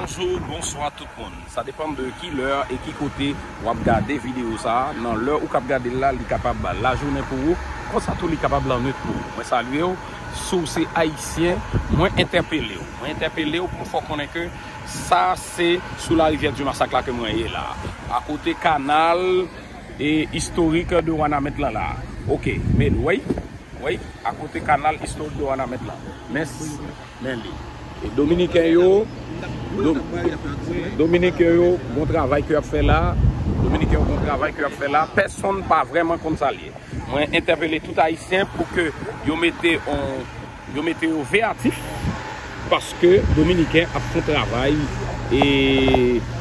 Bonjour bonswa tout moun sa depan de ki lè e ki kote wap gade video sa nan lè ou kap gadel la li kapab lajounen pou ou konsa tou li kapab lannwit pou ou mwen salyew si w se ayisyen mwen entèpelew mwen entèpelew pou m fè w konnen ke sa se sou la rivyè di masak la ke mwen ye la akote kanal e istorik de wanament lan la ok men weyy weyy akote kanal istorik de wanament lan mès. men li. E dominiken yo dominiken yo bon travay ke yap fè la dominiken yo bon travay ke yap fè la pèsonn pa vrèman konn sa liye mwen entèpele tout ayisyen pou ke yo mete on yo mete yo veyatif paske dominiken ap fon travay e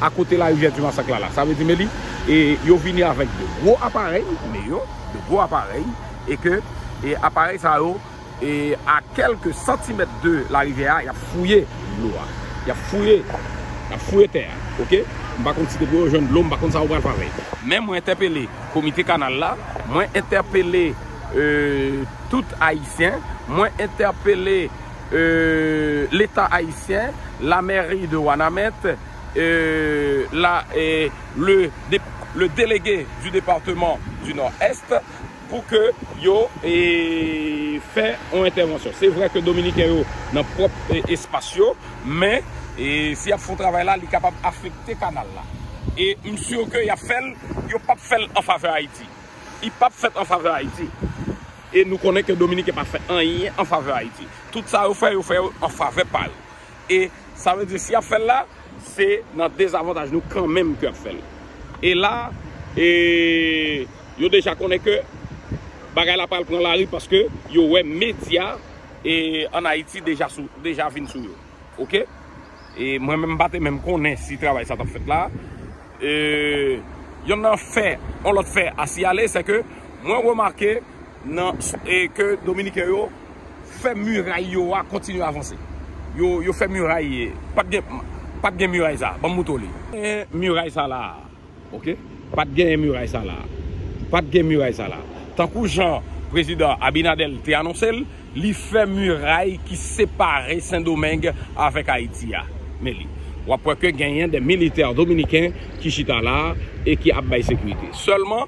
akote la rivyè di masak la la sa vle di men li e yo vini avèk de gwo aparèy me yo de gwo aparèy e ke e aparèy sa yo E a kèlke santimèt de larivyè a, y ap fouye dlo a. Y ap fouye, y ap fouye tè a. Ok. M pa konn si depi yo jwenn dlo, m pa konn sa yo pral fè avè l. Men mwen entèpele komite kanal la, mwen entèpele tout Ayisyen, mwen entèpele Leta Ayisyen, la mèri de Wanament, le delege di departeman di Nò Èst, pou ke yo fè yon entèvansyon. Se vre ke Dominiken yo nan pwòp espas yo, men si y ap fè yon travay la, li kapab afekte kanal la. E m sur ke y ap fè l, yo p ap fè l an favè Ayiti. Li p ap fèt an favè Ayiti. E nou konnen ke Dominiken pa fè anyen an favè Ayiti. Tout sa yo fè, yo fè yo an favè pa yo. E sa vle di si yap fèl la se nan dezavantaj nou kanmenm ke yap fèl. E la e yo deja konnen ke bagay la pral pran lari paske yo wè medya e an Ayiti deja sou deja vin sou yo. Ok. E mwen menm pa te menm konnen si travay sa tap fèt la. E yonn nan fè yon lòt fè a siyale se ke mwen remake nan e ke dominiken yo fè miray yo a kontinye avanse yo fè miray pat gen pat gen miray sa banm moutre w li miray sa la a ok pat gen miray sa la a pat gen miray sa la a tankou jan prezidan abinadèl te anonse l li fè miray ki separe sendomeng avèk ayiti a men li wap wè ke genyen de militè dominiken ki chita la a e ki ap bay sekirite sèlman.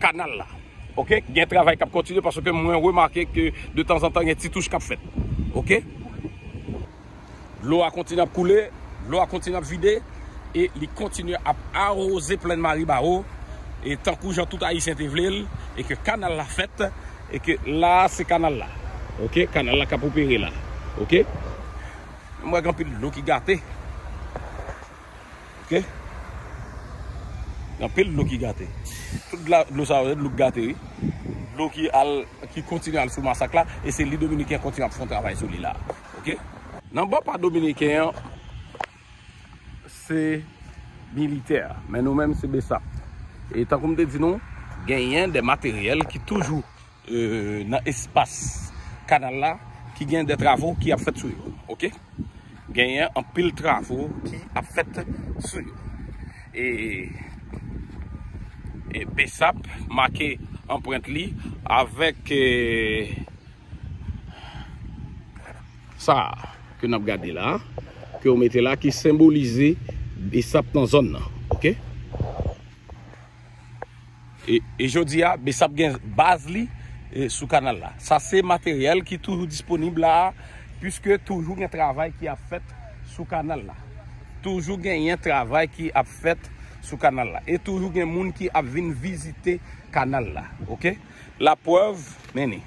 kanal la ok gen travay kap kontinye paske mwen remake ke de tanzantan gen ti touch kap fèt ok dlo a kontinye ap koule dlo a kontinye ap vide e li kontinye ap aroze plèn maribawo e tankou jan tout ayisyen te vle l e ke kanal la fèt e ke la se kanal la ok kanal la kap opere la ok m wè gen anpil dlo ki gate. Ok Gen anpil dlo ki gate Tout dlo sa yo se dlo ki gate wi Dlo ki al Ki kontinye al sou masak la E se li dominiken kontinye ap fon travay sou li la Ok Nan bò pa dominiken an Se Militè Men nou menm se besap E tankou m te di nou Genyen de materyèl ki toujou nan espas kanal la ki gen de travo ki ap fèt sou yo ok genyen anpil travo ki ap fèt sou yo e e besap make anprent li avèk e sa ke nap gade la ke yo mete la ki senbolize besap nan zòn nan ok. E jodi a, Bsap gen baz li sou kanal la. Sa se materyèl ki toujou disponib la a, piske toujou gen travay ki ap fèt sou kanal la. Toujou genyen travay ki ap fèt sou kanal la. E toujou gen moun ki ap vin vizite kanal la. Ok? Laprèv, men ni.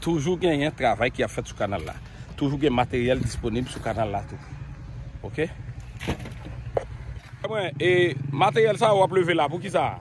Toujou genyen travay ki ap fèt sou kanal la. Toujou gen materyèl disponib sou kanal la tou. Ok. Mwen, e materyèl sa ou ap leve la pou ki sa?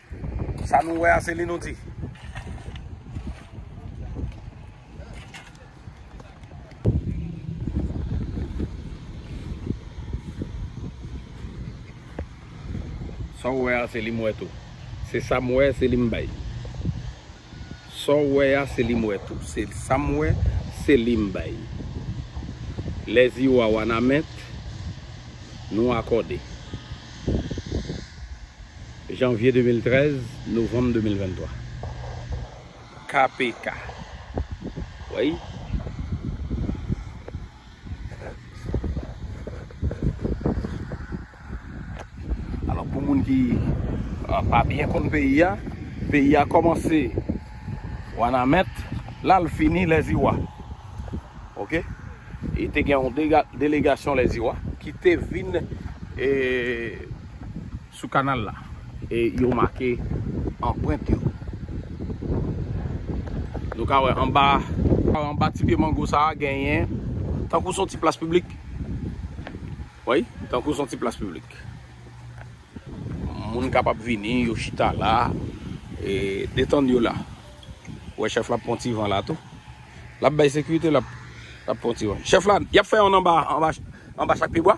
Sa nou wè a se li nou di. Sa ou wè a se li m wè tou. Se sa m wè se li m bay. Saw wè a se li m wè tou. Se sam wè se li m bay. Lè zi ou a wanament nou akòde. Janvye 2013, novanm 2023. KPK. Weyy. Alò pou moun ki pa byen konn peyi a, peyi a kòmanse Wanament, la l fini Lèziwa. Ok? E te gen yon delegasyon Lèziwa ki te vin e... Sou kanal la. E yo make anprent yo. Nou ka wè anba. Anba ti pye mango sa a genyen. Tankou son ti plas piblik. Wi, tankou son ti plas piblik. Moun kapab vini, yo chita la. E detann yo la. Wè chèf la ap pran ti van la tou. L ap bay sekirite, l ap pran ti van. Chèf la, y ap fè youn anba chak pyebwa?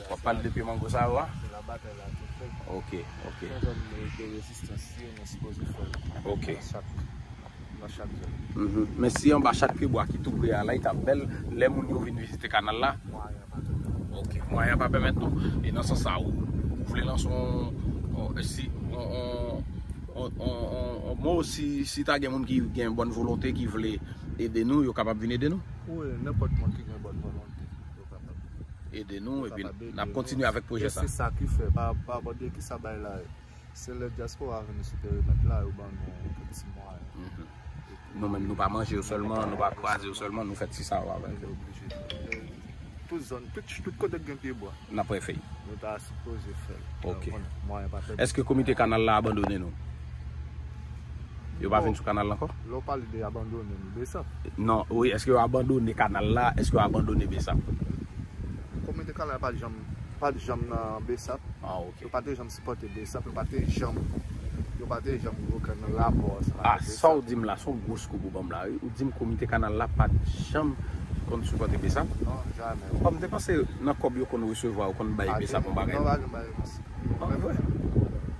Wap pale de pye mango sa yo a? Se la batay la tou fèt. Ok, ok. Nan zòn de rezistans yo nou sipoze fè l. Ok. Nan chak, nan chak zòn. Mph. Men si anba chak pye bwa ki tou pre a la li tap bèl lè moun yo vin vizite kanal la? Mwayen an pa pèmèt non. Ok. Mwayen an pa pèmèt non. E nan sans sa ou vle lanse yon si yon yon mo si ta gen moun ki gen bòn volonte ki vle ede nou yo kapab vin ede nou? Wi, nenpòt moun ki gen bòn volonte. ede nou epi nap kontinye avèk pwojè sa. Sesa ki fè pa abòde ki sa bay la ye. Se lè diaspora vini sou perimèt la yo ban nou kèk ti mwayen. Nou menm nou pa manje yo sèlman, nou pa kraze yo sèlman, nou fè ti sa yo avèk yo. Tout zòn, tout kote gen pye bwa. Nap refè. Nou ta sipoze fèl. Ok. Mwayen pa pèmèt. Eske komite kanal la abandone nou? Yo pa vin sou kanal la ankò? Lè w pale de abandone m, Besap? Non, wi, èske yo abandone kanal la, èske yo abandone Besap? Kominote kanal pa t janm, pa t janm nan Besap. Ah ok. Yo pa te janm sipòte Besap, yo pa te janm, yo pa te janm gen okenn rapò ansanm avèk Besap. Ah, sa w di m la, s on gwo scoop ou ban m la wi. Ou di m kominote kanal la pa t janm konn sipòte Besap? Non, jamè. Ah, m te panse nan kòb yo konn resevwa, yo konn bay Besap yon bagay. Non, pa janm bay yon, Ou pa kwè?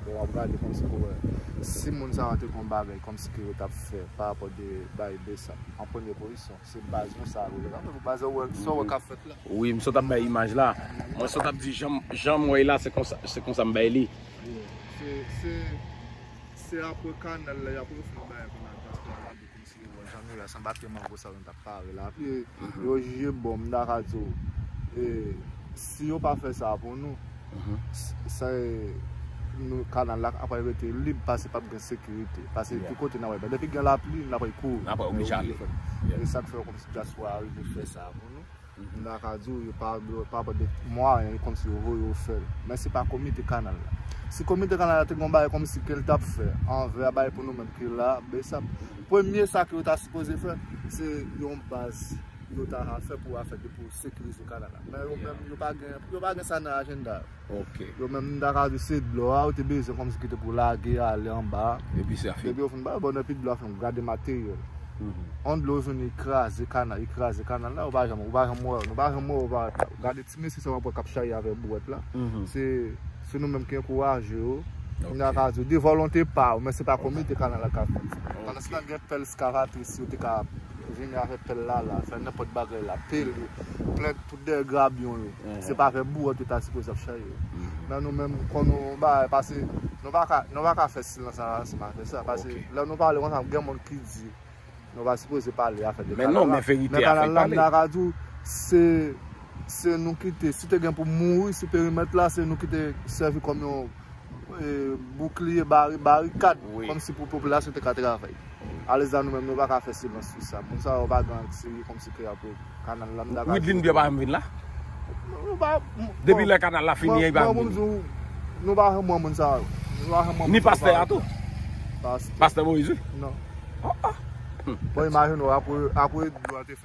Bon wap gade kòmsi pou wè. Si moun sa yo te kon bagay kòmsi ke yo tap fè pa rapò de bay bsap an premye pozisyon. Se baz nou sa yo ye. Anpil pou baz ou wè sa ou wè kap fèt la. Wi m sot ap bay imaj la. Mwen sot ap di janm wè la se konsa m bay li. Bon se se apre kanal la yap refè bagay konn ak baz pèp la. Mesye bon jan nou ye a san batri mango sa yo nou tap pare la pi yo jije bon m daka di w e si yo pa fè sa pou nou se nou kanal la ap rete lib pase pap gen sekirite pase tout kote nap wè depi gen lapli nap kouri nap oblije ale e sak fè yo konn si dyaspora rive fè sa pou nou. Mta ka di w yo pa pran de mwayen yo konn si yo voye yo fè l. Men se pa komite kanal la. Si komite kanal la te gen yon bagay kòmsi ke l ta p fè anvè a bay pou nou menm ki la bsap. Premye sa ke yo ta sipoze fè se yon baz yo ta ka fè pou afè de pou sekirize kanal la. Men yo menm yo pa gen sa nan ajenda yo. Ok. Yo menm m ta ka di se dlo a yo te bezwen kòmsi ki te pou lage ale anba a. Epi sa fini. Depi yo fin bay bon epi dlo a fin gade materyèl. On dlo vini kraze kanal li kraze kanal la ou pa janm ou pa janm wè yo nou pa janm wè yo parèt la. Gade ti mesye sa wap wè kap charye avèk bouwèt la se se nou menm ki ankouraje yo m ta ka di yo de volonte pa yo men se pa komite kanal la kap fè sa. Pandanstan gen pèl skavatris yo te ka vini avèk pèl la la fè nenpòt bagay la pele plen. Dèyè grabyon yo. Se pa avèk bouwòt yo ta sipoze ap charye yo. Men nou menm nou konn yon bagay pase nou pa ka nou pa ka fè silans nan ransism afè sa. Pase lè nou pale konsa gen moun ki di nou pa sipoze pale afè de kanal la. Men non men verite a fè l pale. Men kanal la m ta ka di w se se nou ki te si te gen pou mouri sou perimèt la se nou ki te sèvi kòm yon. boukliye, barikad, kòm si pou popilasyon te ka travay. Alèzan nou menm nou pa ka fè silans sou sa. Moun sa yo pa garanti kòm si ke y ap kanal la. Widlin byen pa janm vin la? Depi lè kanal la fini an li pa janm vin la? Nou pa janm wè moun sa yo. Ni pastè a tou? Pastè Moïse wi? Non. Bon imajine w apre dlo a te fini.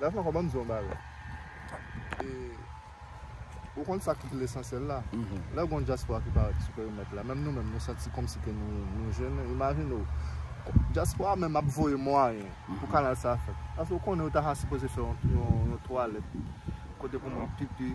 La fwa kòman mzon bagay. E ou konn sa ki lesansyèl la. Lè gon dyaspora ki parèt sou perimèt la, menm nou menm nou santi kòm si ke nou jennen. Imajine w, dyaspora menm ap voye mwayen pou kanal sa fèt. Èske ou konnen yo ta sipoze fè yon twalèt kote pou moun pipi?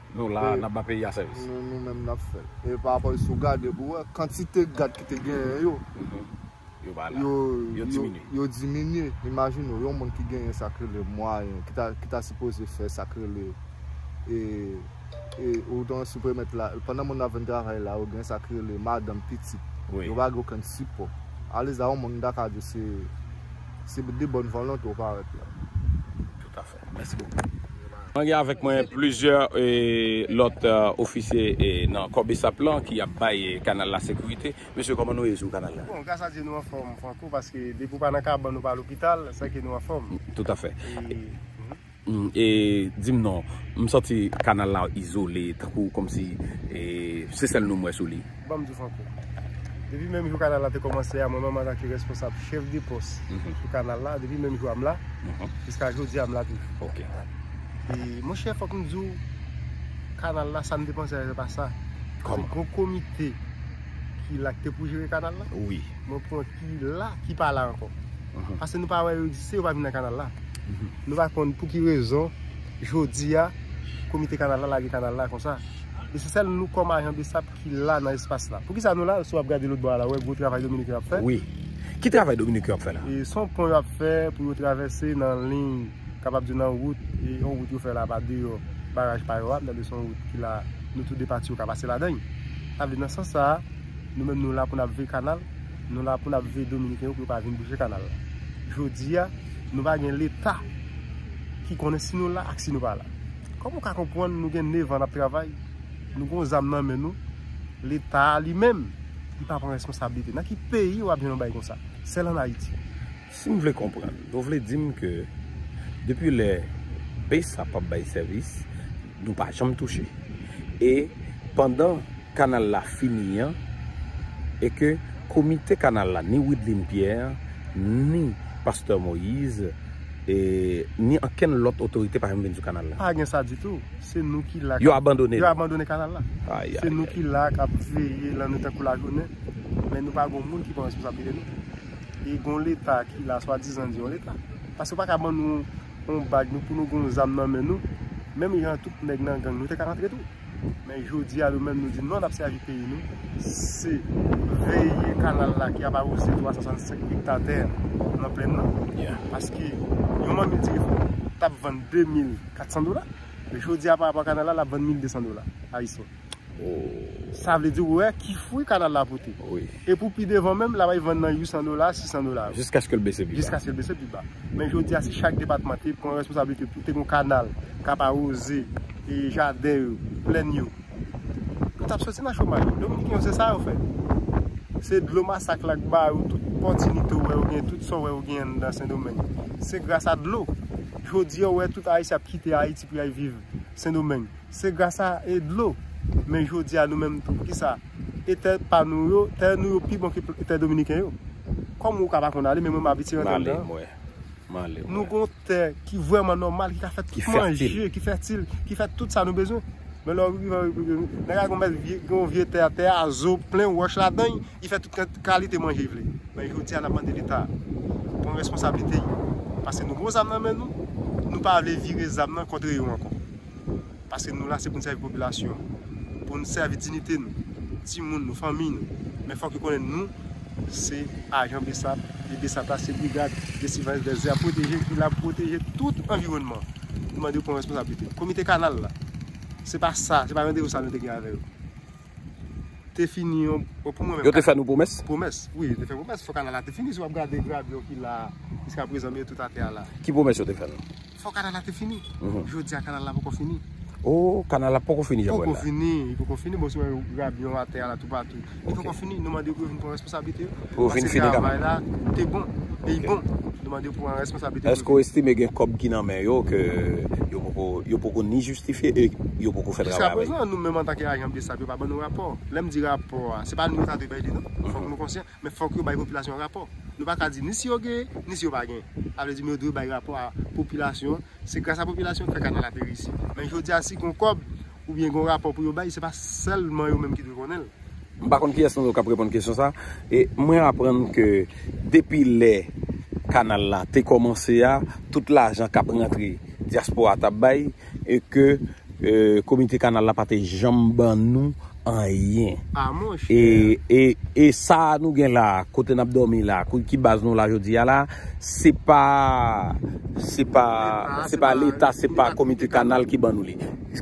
Nou la, n ap ban peyi a sèvis. Nou nou menm n ap fè l. E pa rapò, si w gade pou w wè, kantite gad ki te genyen yo, yo diminye. Imajine w, yon moun ki genyen sa k rele mwayen, ki ta sipoze fè sa k rele, ou te wè si premèt la, pandan moun nan ap vin travay la, yo gen sa k rele madanm, pitit. Yo pa gen okenn sipò. Alèz la, yon moun m ta ka di se de bòn volonte w parèt la. Mèsi bokou. Mwen gen avèk mwen plizyè lòt ofisye nan kò bsap lan ki ap bay kanal la sekirite. Mesye kòman nou ye sou kanal la? Bon, gras a Dye nou anfòm Franco paske depi ou pa nan kabann ou pa lopital, sa ke nou anfòm. Toutafè. E di m non, m santi kanal la izole tankou kòmsi se sèl nou m wè sou li. Banm di w Franco, depi menm jou kanal la te kòmanse a, mwen menm antanke responsab chèf de pòs sou kanal la, depi menm jou a m la, jiska jodi a m la toujou. E monchè fòk m di w, kanal la sa n te panse a se pa sa. Kòman? Se yon komite ki la ki te pou jere kanal la. Wi. Mwen pran ki la ki pa la ankò. Pase nou pa wè yo egziste, yo pa vin nan kanal la. Nou pa konn pou ki rezon. Jodi a, komite kanal la lage kanal la konsa. E se sèl nou kòm ajan besap ki la nan espas la. Pou ki sa nou la, si w ap gade lòt bò a la, wè gwo travay Dominiken yo ap fè. Wi. Ki travay Dominiken yo ap fè la? E se yon pon yo ap fè pou yo travèse nan liy, kapab di nan wout, e yon wout yo fè la pa deyò baraj pa yo a. M tande se yon wout ki la, nou tou de pati yo ka pase ladan l. Sa vle di nan sans sa a, nou menm nou la pou n ap veye kanal. Nou la pou nap veye dominiken yo pou yo pa vin bouje kanal la. Jodi a, nou pa gen leta ki konnen si nou la ak si nou pa la. Kòman ou ka konpwann nou gen 9 an nap travay, nou gon zam nan men nou, leta li menm li pa pran responsabilite. Nan ki peyi wap jwenn yon bagay konsa? Sèl an Ayiti. Si m vle konprann, nou vle di m ke depi lè base la pap bay sèvis, nou pa janm touche. E pandan kanal la fini an, e ke komite kanal la, ni Wideline Pierre, ni Pastè Moïse, e ni ankenn lòt otorite pa janm vin sou kanal la. Pa gen sa ditou. Se nou ki la. Yo abandone l. Yo abandone kanal la. Ayayay. Se nou ki la kap veye lannwit tankou lajounen. Men nou pa gen yon moun ki pran responsablite nou. E gon leta ki la swa dizan di yon leta. Pase yo pa ka ban nou yon bag nou pou nou gon zam nan men nou. Menm jan tout nèg nan gang nou te ka rantre tou. Men jodi a nou menm nou di non nap sèvi peyi nou. Se veye kanal la ki ap awoze 365 ekta tè nan plenn nan. Paske yon manmi di ri tap vann 2400 dola. Jodi a pa apwa kanal la lap vann 1200 dola. Ayisyen. Sa vle di ou wè ki fwi kanal la pote. E pou pi devan menm, la bay vann nan 800 dola, 600 dola. Jiskaske l bese pi ba. Jiskaske l bese pi ba. Men jodi a si chak depatman te pran responsabilite pou te gon kanal k ap awoze jaden yo, plenn yo, nou t ap soti nan chomaj. Dominiken yo se sa yo fè. Se dlo masak la k ba yo tout pòtinite ou wè yo gen, tout sa ou wè yo gen anndan Sendomeng. Se gras a dlo. Jodi a ou wè tout Ayisyen ap kite Ayiti pou y al viv Sendomeng. Se gras a e dlo. Men jodi a nou menm tou kisa? E tè pa nou yo, tè nou yo pi bon ke tè dominiken yo. Kòm ou ka pa konn ale men mwen m abitye rantre anndan. Male mwen. Male mwen. Nou gon tè ki vrèman nòmal ki ka fè tout manje, ki fètil, ki fè tout sa nou bezwen. Men lè w rive an Repiblik Dominikèn, nèg la gon bèl vye, gon vye tè a, tè a zo, plen wòch ladan l, li fè tout kalite manje li vle. Men jodi a n ap mande leta pran responsablite l paske nou gon zam nan men nou, nou pa vle vire zam nan kontre yo ankò. Paske nou la se pou n sèvi popilasyon an. Pou n sèvi dinite nou, timoun nou, fanmiy nou. Men fòk yo konnen nou se ajan bsap e bsap la se Brigad de Siveyans dè Zè a pwoteje ki la pou pwoteje tout anviwònman. Nou mande yo pran responsablite. Komite kanal la, se pa sa, se pa randevou sa nou te gen avè yo. Te fini yon, bon pou mwen menm. Yo te fè nou pwomès? Pwomès, wi yo te fè pwomès. Fòk kanal la te fini. Si w ap gade gravyon ki la a jiska prezan, men yo tout atè a la. Ki pwomès yo te fè nou? Fò kanal la te fini. Jodi a kanal la poko fini. Oh, kanal la poko fini Jean Paul la. Poko fini, li poko fini. Bon, si wè grabyon atè a la tou patou. Li poko fini. Nou mande pou yo vin pran responsablite yo. Pou yo vin fini kanal. Pase travay la te bon. E li bon. Nou mande pou an responsablite. Eske ou estime gen kòb ki nan men yo ke yo poko, yo poko ni jistifye e yo poko fè travay avèk yo? Jiskaprezan, nou menm antanke ajan bsap yo pa ban nou rapò. Lè m di rapò a, se pa nou yo ta dwe bay li non. Fòk nou konsyan. Men fòk yo bay popilasyon an rapò. Nou pa ka di ni si yo gen, ni si yo pa gen. Sa vle di men yo dwe bay rapò a popilasyon. Se gras a popilasyon ki fè kanal la te reyisi. Men jodi a si gen yon kòb, oubyen gen yon rapò pou yo bay, se pa sèlman yo menm ki dwe konnen l. M pa konn kiyès nan nou k ap reponn kesyon sa a. E mwen aprann ke depi lè kanal la te kòmanse a, tout lajan k ap rantre dyaspora t ap bay. E ke komite kanal la pa te janm ban nou anyen. Ah mon cher! E sa a nou gen la a, kote nap domi la a, ki baz nou la jodi a la a, se pa, se pa, se pa leta, se pa komite kanal ki ban nou li.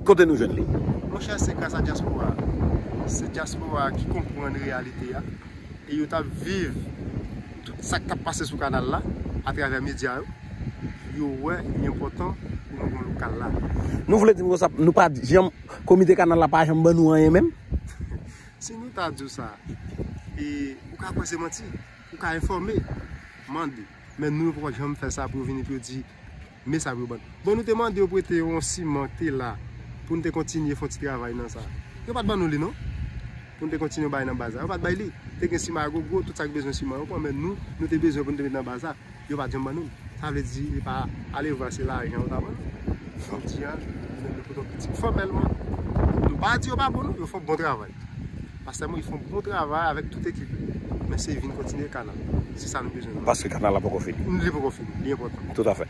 Kote nou jwenn li? Mon cher se gras a diaspora a. Se diaspora a ki konprann reyalite a. E yo tap viv tout sak tap pase sou kanal la, a travè media yo. yo wè li enpòtan pou nou gen lokal la. Nou vle di m konsa nou pa janm, komite kanal la pa janm ban nou anyen menm? Si nou ta di w sa, e ou ka kwè se manti, ou ka enfòme, mande. Men nou yo poko janm fè sa pou yo vini pou yo di men sa pou yo ban nou. Bon nou te mande yo prete yon siman ki te la pou nou te kontinye fon ti travay nan sa. Yo pa t ban nou li non. pou nou te kontinye bay nan baz la. Yo pa t bay li. Te gen siman gwo gwo, tout sa ki bezwen siman yo pran, men nou, nou te bezwen pou nou te met nan baz la, yo pa t janm ban nou l. Sa vle di, epa, alevwa se lajan yo ta ban nou. Jodi a, nou menm nou poto pitit fòmèlman. Nou pa di yo pa bon non, yo fon bon travay. Pastè Moïse fon bon travay avèk tout ekip li. Men se vin kontinye kanal. Se sa nou bezwen. Paske kanal la poko fini. Li poko fini. Li enpòtan. Toutafè.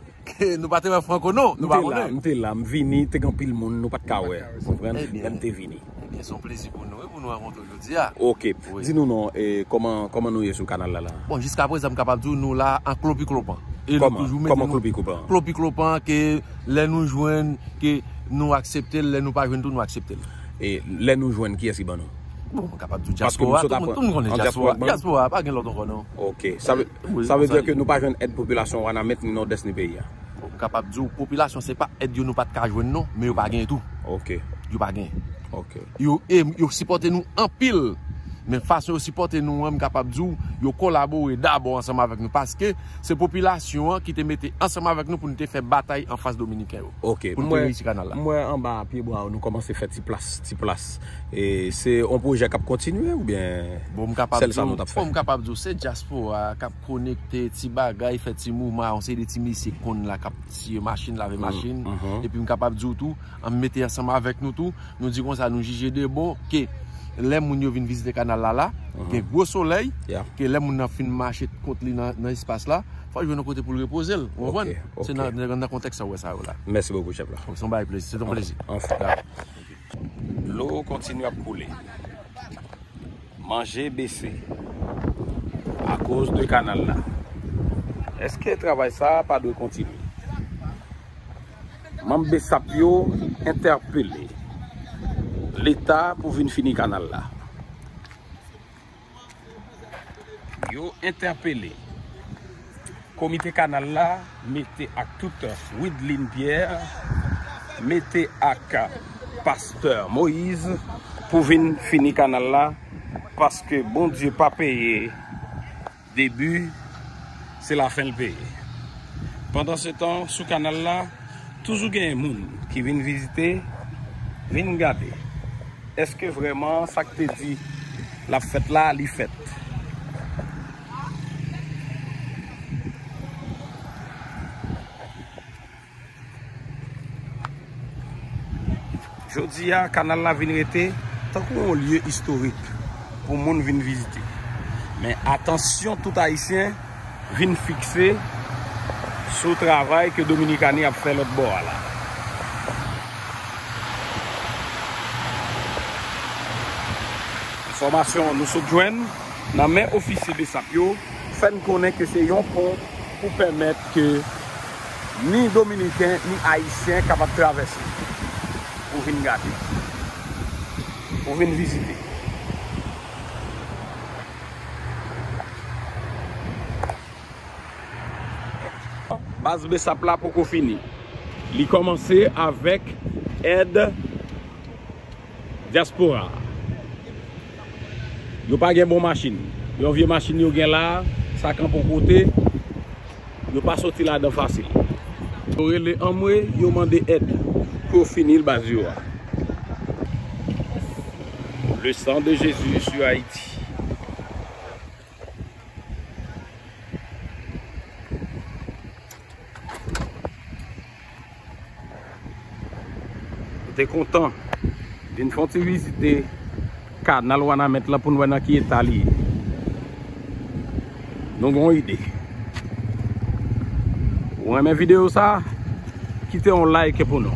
Nou pa te wè Franco non, nou pa konnen. M te la, m vini, te gen anpil moun nou pat ka wè, ou konprann, lè m te vini. Ebyen se yon plezi pou nou wi pou nou rankontre w jodi a. Ok, di nou non, kòman nou ye sou kanal la la? Bon, jiska prezan m kapab di w nou la an klopiklopan. Kòman? Kòman klopiklopan? Klopiklopan ke lè nou jwenn ke nou aksepte l, lè nou pa jwenn tou nou aksepte l. E lè nou jwenn kiyès ki ban nou? Bon, m kapab di w dyaspora, tout moun konnen dyaspora. Dyaspora, pa gen lòt ankò non. Ok, sa vle. Sa vle di ke nou pa jwenn èd popilasyon Wanament ni Nòdès ni peyi a? M kapab di w popilasyon se pa èd yo nou pat ka jwenn non, men yo pa genyen tou. Yo pa genyen. Yo e yo sipòte nou anpil, men fason yo sipòte nou an m kapab di w yo kolabore dabò ansanm avèk nou paske se popilasyon an ki te mete ansanm avèk nou pou nou te fè batay anfas dominiken yo pou nou te reyisi kanal la. M wè anba pyebwa w nou kòmanse fè ti plas ti plas E se yon pwojè kap kontinye ou byen sèl sa nou tap fè? Bon m kapab di w se dyaspora a kap konekte ti bagay fè ti mouvman a yon seri de ti mesye k konn la kap siye machin lave machin epi m kapab di w tou an mete ansanm avèk nou tou nou di konsa nou jije de bon ke lè moun yo vin vizite kanal la la gen gwo solèy ke lè moun nan fin mache kont li nan espas la fò l jwenn yon kote pou l repoze l ou konprann se nan kontèks sa w wè sa yo la. Mèsi bokou chèf la. Se yon bagay plezi se yon plezi. Dlo kontinye ap koule. Manje bese. Akoz de kanal la. Eske travay sa pa dwe kontinye? Manm Bsap yo entèpele Leta pou vin fini kanal la. Yo entèpele komite kanal la mete ak tout Widline Pierre mete ak pastè Moïse pou vin fini kanal la paske Bondye pa peye debi se lafen l peye. Pandansetan sou kanal la. Toujou gen moun ki vin vizite, vin gade èske vrèman sa k te di l ap fèt la, li fèt. Jodi a, kanal la vin rete tankou yon lye istorik pou moun vin vizite. Men atansyon tout Ayisyen vin fikse sou travay ke Dominikani ap fè lòt bò a la. Enfòmasyon nou sot jwenn nan men ofisye besap yo fè n konnen ke se yon pon pou pèmèt ke ni dominiken ni ayisyen kapab travèse pou vin gade, pou vin vizite. Baz bsap la poko fini. Li kòmanse avèk èd. Diaspora a Yo pa gen bon machin Yon vye machin yo gen la Sa kanpe yon kote Yo pa soti ladan fasil Yo rele anmwe Yo mande èd Pou yo fini l baz yo a Le sang de Jésus sur Haïti. Mwen te kontan vin fon ti vizite kanal Wanament la pou nou wè nan ki eta li ye. Nou gen yon ide. Ou renmen videyo sa? Kite yon like pou nou.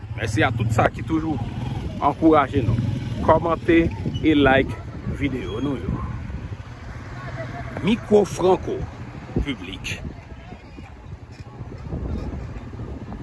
Mèsi a tout sa ki toujou ankouraje nou kòmante e like videyo nou yo. Micro Franco Public.